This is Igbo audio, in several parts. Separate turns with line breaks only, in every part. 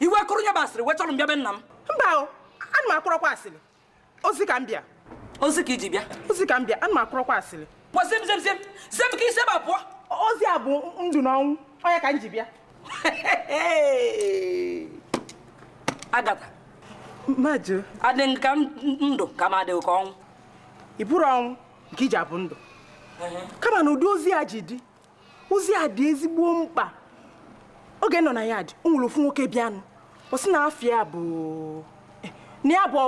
i wee kuru ihe bụ asịrị wee chọrọ m bịa be nna m mba o ana m akọrọkwa asịrị ozi ka m bịa ozi ka i ji bịa ozi ka m bịa ana m akọrọkwa asịrị pụọ zem zem zem zem ka i si ebe a pụọ ozi a bụ ndụ na ọnwụ ọ ya ka m ji bịa agata m ajụ adị m ka m- ndụ ka m adịghị ka ọnwụ ị bụrọ ọnwụ nke i ji abụ ndụ kama na ụdị ozi a ji dị ozi a dị ezigbo mkpa oge m nọ na yard o nwere ofu nwoke bịanụ ọ sị na afa ya bụ eh, na ya bụ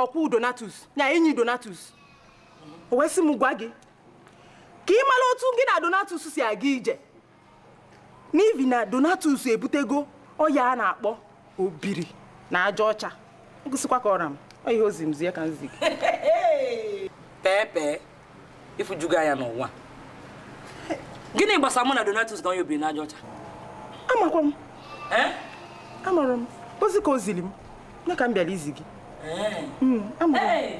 ọkwụ donatus ya enyi donatus o wee sị m gwa gị ka ị mara otu gị na donatus si aga ije n'ihi na donatus ebutego ọya a na-akpọ obiri na aja ọcha ọ gwụsịkwa ka ọ ra m ọ ihe o ziri m zie ka m zi gị pee pee ị fụjugo anya n'ụwa gịnị gbasara mụ na donatus ka onye obiri na aja ọcha amakwa m Eh? amarọ m ọ bụ ozi ka o ziri m ya ka m bịara izi gị Eh. Mm, amarọ m Hey!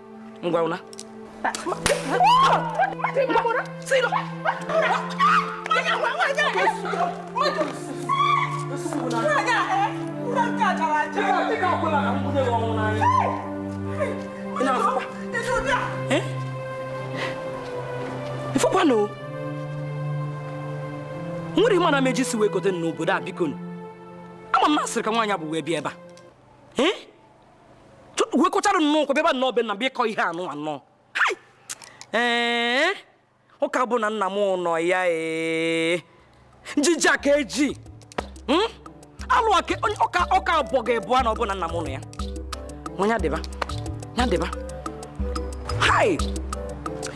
ngwa ụna ị fụkwanụ nwere ịma na meji si wee kote n'obodo a biko ama m na asịrị ka nwaanyị a bu wee bịa ebe a wekọchara nnọọ ụkwụ bịaba nnọọ be nna bịa ịkọ ihe anụ anọ ee ọ ka bụ na nna m nọ ya ee njiji a ka e ji hmm? alụ aka ọka ọka abụọ ga-ebu a na ọ bụ na nna m nọ ya nwa ya dịba ya dịba hai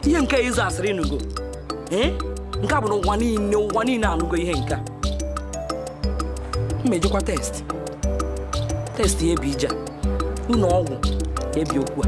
ihe nke ịzụ asịrị ị nụgo ee nke a bụ na ụwa niile ụwa niile anụgo ihe nke a m ejekwa test test ya ebi ije ụlọ ọgwụ ebi okwu a